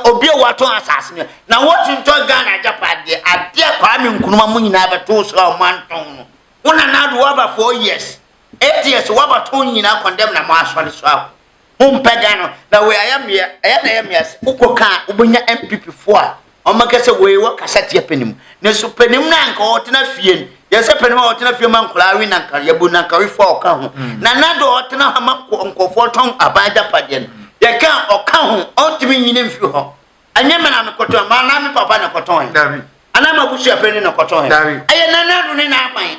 obi a wɔatɔn asase no na wɔntɔn Ghana agyapadeɛ adeɛ Kwame Nkrumah mo nyinaa bɛtoo so a wɔantɔn no wo na nado wɔaba four years eight years wɔaba tɔn nyinaa kɔndɛm na mo asɔre so a mompɛ Ghana na wei ayɛ mmea ɛyɛ na ɛyɛ mmea sɛ wokɔ ka a wobɛnya MPP foɔ a wɔbɛka sɛ wei wɔ kasateɛ panin mu nanso panin no a nka ɔtena fie no yɛ sɛ panin a ɔtena fie ma nkwadaa we na nka yɛbu na nka wefoɔ a ɔka ho mm. na nado a ɔtena ha ma nkɔfoɔ tɔn aban agyapadeɛ no yɛka ɔka ho ɔntumi nyini mfiri hɔ ɛnyɛ mena no kɔtɔn ma anaa me papa na kɔtɔn anaa ma busua panin na kɔtɔn ɛyɛ nanado ne n'aban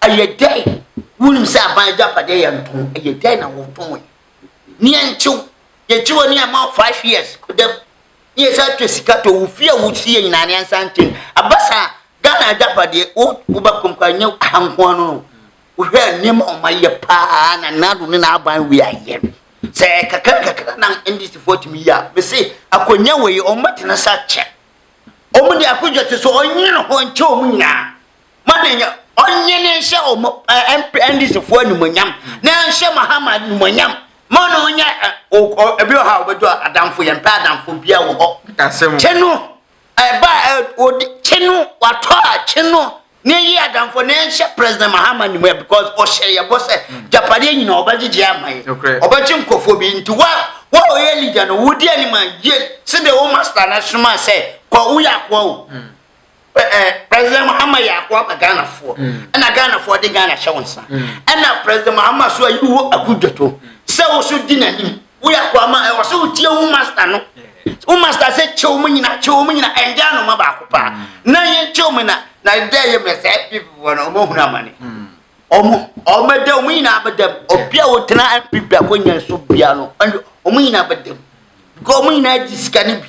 Ɛyɛ dɛn? Wonim sɛ aban agyapadeɛ yɛ ntɔn. Ɛyɛ dɛn na wɔtɔn yi? Neɛ ntew, yɛgye wɔ ne ɛma five years kodam. Ne yɛsa atwa sika tɔ wo fie a wosi yɛ nyinaa ne ansa nkyɛn. Aba saa Ghana agyapadeɛ wo woba kɔmkɔ anyɛ aha nko ano no. Wohwɛ a nneɛma a wɔayɛ paa na Nado ne n'aban wei ayɛ no. Sɛ kakra kakra na NDCfoɔ atumi yɛ a, mese akonnwa wei wɔbɛtena sɛ akyɛ. Wɔn de akonnwa te so ɔnyɛ ne ho nkyɛ wɔn nyinaa. ma ne nya ɔnye ne nhyɛ ɔmo ɛndisifo animonyam na nhyɛ mahama animonyam ma na ɔnyɛ ebi wɔ ha a ɔbɛdɔ adanfo yɛn pɛ adanfo bia wɔ hɔ kye no ɛba ɔdi kye no watɔ a kye no ne yi adanfo na nhyɛ president mahama animonyam because ɔhyɛ yɛ bɔ sɛ japadeɛ nyina ɔbɛgyegye ama yɛ ɔbɛgye nkurɔfoɔ bi nti wa wa ɔyɛ leader no wodi anim a yie sɛdeɛ wo master no asoma sɛ kɔ woyɛ akoa o hmm. president mahama yɛ ako aba ghanafoɔ ɛna mm. ghanafoɔ de ghana hyɛ wo nsa ɛna mm. president mahama so ayi wo akudwato sɛ wo so di n'anim woyɛ ako ama ɛwɔ sɛ wotie wo master no wo master sɛ kyew mu nyina kyew mu nyina ɛnde anoma baako paa mm. na yɛnkyew mu na na dɛ yɛ mmerɛ sɛ ɛpipifoɔ no ɔmahunu amane ɔmo ɔmɛdɛ ɔmo nyinaa bɛdɛm obi a wotena mpp akɔnya so bia no ɔmo nyinaa bɛdɛm because ɔmo nyinaa gye sika no bi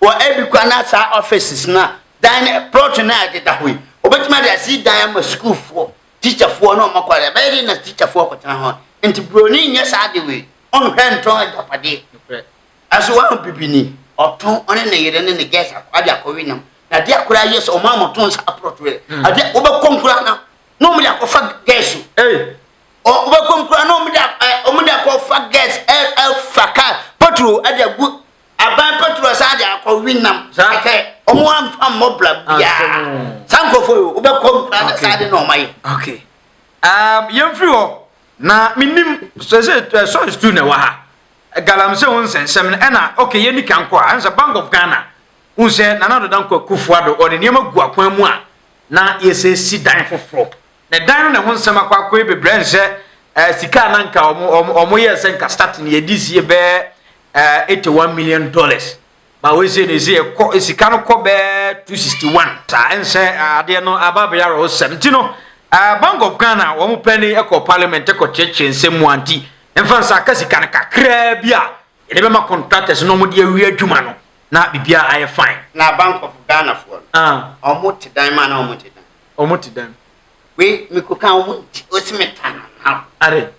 wɔ ebi koraa na saa offices no a, dan no plot no a ɛdeda hɔ yi, wɔbɛtumi ade asi dan ama sukuufoɔ, tikyafoɔ na wɔn akwadaa. Ɛbɛyɛ dɛ na tikyafoɔ akɔtena hɔ. Nti buroni nyɛ saa ade wei. Ɔnhwɛ ntɔn agyapadeɛ. Nokorɛ. Ɛso wɔn bibini, ɔtɔn, ɔne ne yere ne ne girls akɔ de akɔwe nam. Na adeɛ a koraa yɛ sɛ wɔn a wɔtɔn saa plot wei, adeɛ wɔbɛkɔm koraa na na wɔn de akɔfa girls o. Ei! Wɔbɛkɔm koraa na wɔn de wɔn de akɔfa girls ɛfa car petrol de agu aban patro asan de akɔ winam sɛ ɔmo amfa mmɔ bra biara saa nkurɔfoɔ yi wobɛkɔ nkura na saa de na ɔma yɛ okay um, yɛmfiri hɔ na menim sɛ sɛ eh, sɔre stu na ɛwɔ ha galamsey ho nsɛnsɛm no ɛna okay yɛni kan kɔ a ɛnsɛ bank of ghana wohu sɛ nana doda nkɔ akufoa do ɔde nneɛma gu akwan mu a na yɛsɛ si dan foforɔ Ne dan no ne ho nsɛm akwakoe bebrɛ nhɛ eh, sika a na nka ɔmo ɔmo ɔmo yɛ sɛ nka start ne yɛdi sie bɛɛ eh, eighty one million dollars ba wei sɛ ne sɛ ɛkɔ eh, sika no kɔ bɛɛ two sixty one saa nhyɛ eh, adeɛ no aba abɛyɛ awerɛhosɛm nti no eh, Bank of Ghana wɔn pɛ ne ɛkɔ parliament ɛkɔ kyerɛkyerɛ nsɛm mu anti mfa nsa aka sika no kakraa bi a yɛde bɛma contractors na wɔn de awie adwuma no na biribiara ayɛ fine. Na Bank of Ghana foɔ no, ah. wɔn te dan mu anaa wɔn te dan? Ɔmo te dɛn? Wei meko ka ɔmo nti ɔsi me ta na ma wo. Are.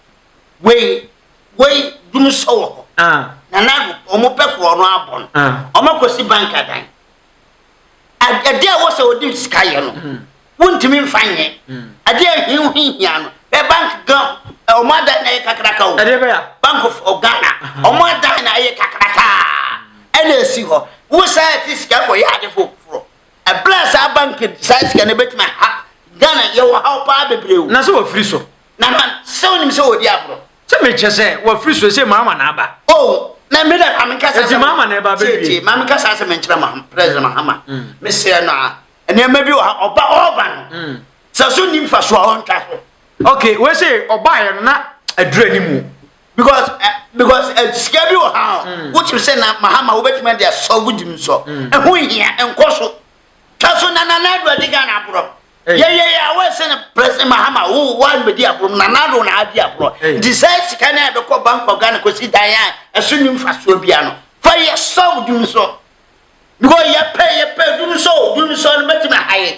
Wei wei dunu sɔ wɔ hɔ. Ah. Nana do ɔmo pɛ korɔ no abɔ no. Ah. Ɔmo akɔ si bank adan. Adeɛ a wɔsɛ ɔde sika yɛ no. Mm. Wontumi nfa nyɛ. Mm. Adeɛ a ɛhia ohihia no. Bɛ bank gan ɔmo adan na ɛyɛ kakraka o. Adeɛ bɛ ya. Bank of Ghana. Ɔmo adan na ɛyɛ kakraka. Ɛna esi hɔ. Wosan ɛte sika kɔ yɛ ade foforɔ. Ɛberɛ a saa bank saa sika no ɛbɛtumi aha Ghana yɛwɔ haw paa bebree o. Na sɛ wafiri so. Na man sɛ wonim sɛ wɔdi agorɔ. Sɛ mekyɛ sɛ wafiri so ɛsɛ maama na aba. Oh na me da maame nka saa sɛ maama na ɛba bɛwie. Tie tie maame nka saa sɛ menkyerɛ ma president Mahama. Mm. Mesrɛ no a nneɛma bi wɔ ha ɔba ɔba no. Mm. Sɛ so nim fa so a ɔntwa so. Okay wei sɛ ɔbaeɛ no na adura ni mu. because eh, because eh, sika bi wɔ ha a mm. wotim sɛ na mahama wobɛtumi ade asɔlvo gyim nsɔ mm. ɛho hia ɛnkɔ so twa so na nana ado adi ghana aborɔ yɛyɛ yɛ awɔ sɛ no president mahama wo woanbɛdi aborɔ mu nana ado na adi aborɔ nti sɛ sika no a ɛbɛkɔ bank of ghana kɔsi dan a ɛso ni mfasoɔ bia no fa yɛ sɔlvo gyim nsɔ because yɛpɛ yɛpɛ dum sɔ dum sɔ no bɛtumi ahayɛ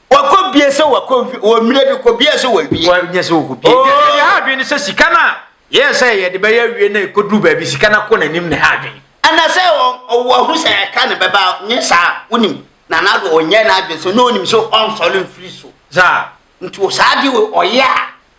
Wakɔ bie sɛ wakɔ nfi wɔ mmerɛ bi kɔ bie sɛ wawie. Wanyɛ sɛ wɔkɔ bie. Nti ɛyɛ ha adwene sɛ sika no a yɛyɛ sɛ yɛde bɛyɛ awie na ɛkɔduru baabi sika no akɔ n'anim na ɛha adwene. Anasɛ ɔwɔ ahu sɛ ɛka no bɛba nyɛ saa wonim na na ɔnyɛ n'adwene sɛ na ɔnim sɛ ɔnsɔre mfiri so. Saa. Nti saa adeɛ wei ɔyɛ a.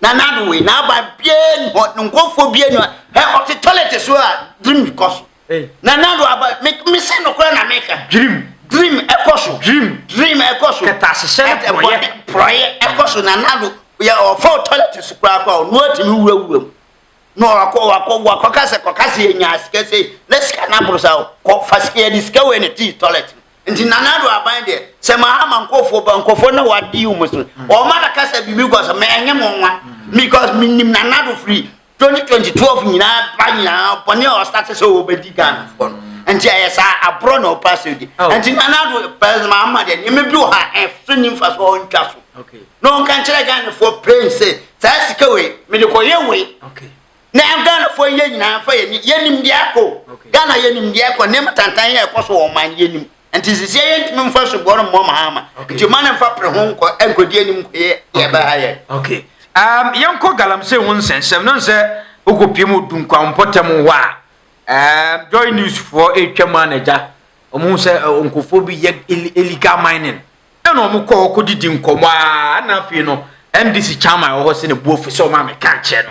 na n'ano wei n'aba biara ni hɔ ne nkɔfoɔ biara ni hɔ ɛ ɔte tɔlɛte so a dream kɔ so na n'ano aba me me se nokora na meka dream dream ɛkɔ so dream dream ɛkɔ so kɛtɛ ahyehyɛ ne porɔyɛ porɔyɛ ɛkɔ so na n'ano yɛ ɔfa tɔlɛte so koraa koraa ɔno atumi wurawura mu na wakɔ wakɔ wakɔ kasa kɔ kasa yɛ nya sika sɛ na sika n'aboro sa kɔ fa sika yɛ de sika wɔ ne ti tɔlɛte nti nana ado aban deɛ sɛ mahama nkɔfoɔ ba nkɔfoɔ na wadi wɔn so wɔn ma na kasa bi mi kɔ so mɛ ɛnyɛ mo nwa because mi nim nana ado firi twenty twenty twelve nyinaa ba nyinaa bɔne a ɔsate sɛ ɔbɛdi ghana foɔ no nti ɛyɛ saa aborɔ na ɔpa sɛ di oh. nti nana ado pɛs mahama deɛ nneɛma bi wɔ ha ɛso ni nfa so ɔntwa so na ɔnka nkyerɛ ghana foɔ pɛn sɛ saa sika wei mede kɔyɛ wei Na yɛn Ghanafoɔ yi yɛn nyinaa fa yɛn ani yɛnim deɛ ɛkɔ Ghana yɛnim deɛ ɛkɔ nneɛma tantan yɛ ɛkɔ so wɔ ɔman no yɛnim nti sisi yɛn ntumi nfa soboɔ no mmɔ mahama nti ɔman no nfa pere ho nkɔ nkɔdi anim nkɔ yɛ yɛ bɛ ha yɛ. Okay um, yɛn kɔ galamsey ho nsɛnsɛm no nsɛ okɔ pie mu odu nkwampɔtɛm hɔ a um, joy news foɔ etwa mu anagya wɔn sɛ uh, nkurɔfoɔ bi yɛ illegal mining ɛna wɔn kɔ hɔ kɔ didi nkɔmɔ a ɛna afei no ndc chairman wɔ hɔ sɛ ne bu ofi sɛ wɔn a mɛka nkyɛn no.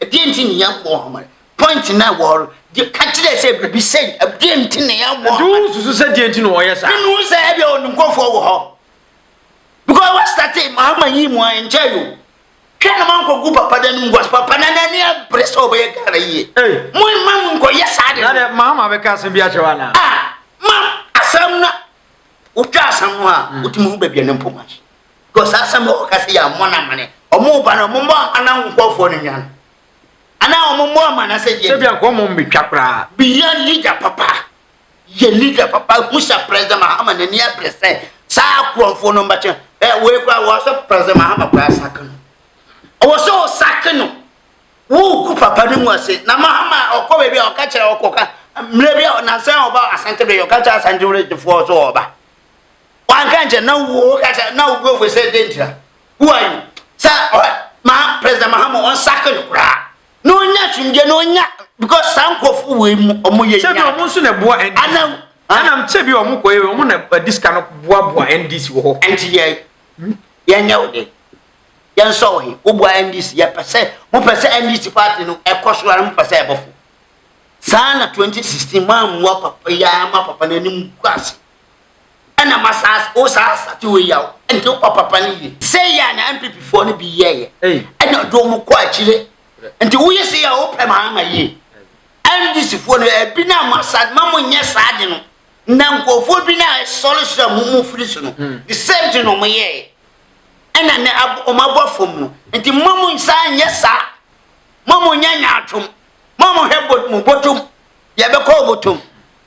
Ɛdeɛn nti na yɛabɔ ɔhome? Point na wɔre de ka kyerɛ sɛ biribi sɛn? Ɛdeɛn nti na yɛabɔ ɔhome? Ɛdeɛn nsusu sɛ deɛn nti na wɔyɛ saa? Ɛnu sɛ ɛdeɛ wɔn nkurɔfoɔ wɔ hɔ. Because what started mahama yi mu a ɛnkyɛ yo. Hwɛ na manko gu papa dan mu was papa na n'ani abere sɛ ɔbɛyɛ Ghana yie. Mo mma mu nkɔ yɛ saa de. Na dɛ mahama bɛka asɛm bi akyerɛ wa na. Ah ma asɛm na wotwa asɛm no a wotumi ho baabi a ne mpoma. Because saa asɛm a wɔka sɛ yɛammɔ no amane, wɔreba no wɔmmɔ amane wo nkurɔfoɔ no nwan anaa wɔmmɔ amane sɛ yɛ. Sɛ bia nka wɔn mmetwa koraa. Bia leader papa yɛ leader papa hu sɛ President Mahama n'ani abere sɛ saa akorɔmfoɔ no mbɛkyɛ ɛ wei koraa wɔ sɛ President Mahama koraa sake no ɔwɔ sɛ ɔsake no wogu papa no mu ase na Mahama ɔkɔ baabi a ɔka kyerɛ ɔkɔka mmerɛ bi a nansa a ɔba asante bɛyɛ ɔka kyerɛ asante wura gyefoɔ sɛ ɔba wanka nkyɛ na wo ka kyɛ na wo buafo sɛ dɛ ntira who are you sɛ ma president mahama ɔnsake no koraa na ɔnya twimdeɛ na ɔnya because saa nkurɔfo wei mu ɔmo yɛ nyɛ sɛbi ɔmo nso na ɛboa ndc anam anam ah. sɛbi ɔmo kɔ yɛ ɔmo na ɛdi sika no boaboa ndc wɔ hɔ ɛnti yɛ yɛnyɛ wo de yɛnsɔ wo he woboa ndc yɛpɛ sɛ mopɛ sɛ ndc party no ɛkɔ so ara mopɛ sɛ ɛbɔfo saa na 2016 moammoa papa yɛ ama papa no anim gu ase ɛna ma saa wo saa asate wei yaw nti wo papapa no yie sei yɛ a na mppfoɔ no bi yɛɛyɛ ɛna ɔde wɔn kɔ akyire nti woyɛ sei a wopɛ ma ama yie ndisifoɔ no ɛbi no ama sa ma mo nyɛ saa de no na nkurɔfoɔ bi no a ɛsɔre so a mo mo firi so no hmm. the same thing na wɔn yɛɛyɛ ɛna ne wɔn abɔ fam no nti ma mo nsa nyɛ saa ma mo nyɛ nyaatwom ma mo hwɛ mo bɔtɔm yɛbɛkɔ bɔtɔm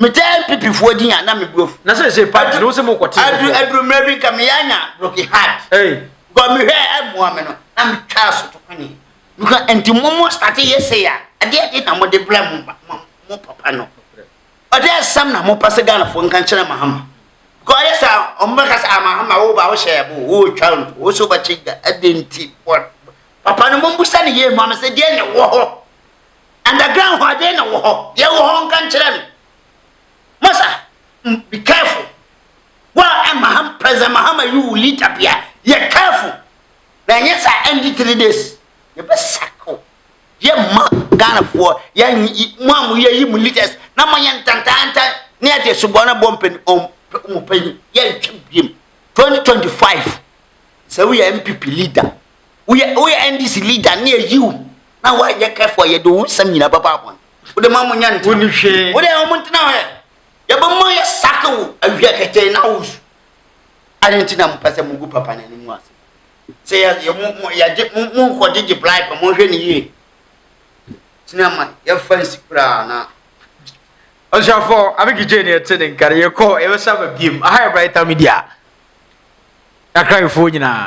metɛɛ npipifoɔ din a na me brofu na sɛ sɛ paa no sɛ mo kɔte aduru aduru mmerɛ bi nka meyɛ anya broken heart bɔ mehwɛ ɛmmoa me no na metwa so to kwane meka nti mo mo starte yɛ sɛ ya adeɛ de na mo de brɛ mo mo papa no ɔde asɛm na mo pa sɛ Ghanafoɔ nka nkyerɛ mahama because ɔyɛ sɛ ɔmo bɛka sɛ amahama ah, wo ba wo hyɛ ɛbo wo twa nto wo so bɛkye da ɛde nti papa no mo mbusa ne yie mu amesɛ deɛ ne wɔ hɔ Underground hɔ adɛn na wɔ hɔ? Deɛ wɔ hɔ nka nkyerɛ me. Masa, be careful. Wa eh, Maham, President Mahama you will lead Abia. Yɛ careful. Na ɛnyɛ saa ɛndi three days. Yɛbɛ sako. Yɛ ma Ghana foɔ. Yɛ mo a mo yɛ yi mo leaders. Na mo yɛ ntantantan. Ne yɛ de subɔ na bɔ mpɛni. Ɔmo pɛni. Yɛ ntwɛ biem. 2025. Sɛ wo yɛ MPP leader. Woyɛ woyɛ NDC leader ne ayi wo na woanyɛ kɛfo a yɛde wo nsɛm nyinaa bɛba abɔn. Wode ma mo nya ntena. Wonni hwee. Wode a wɔn ntena hɔ yɛ. Yɛbɛma yɛ sake wo awia kɛtɛɛ na wo su. Ade nti na mo pɛ sɛ mo gu papa n'ani mu ase. Sɛ yɛ yɛ mo mo yɛgye mo mo nkɔ gyegye bribe mo hwɛ ne yie. Tena ma yɛfa nsi koraa na. Ɔsrafo abegi gye ne ɛte ne nkare yɛkɔ yɛbɛsa ba biem aha yɛ brighter media. Akra yɛfoɔ nyinaa.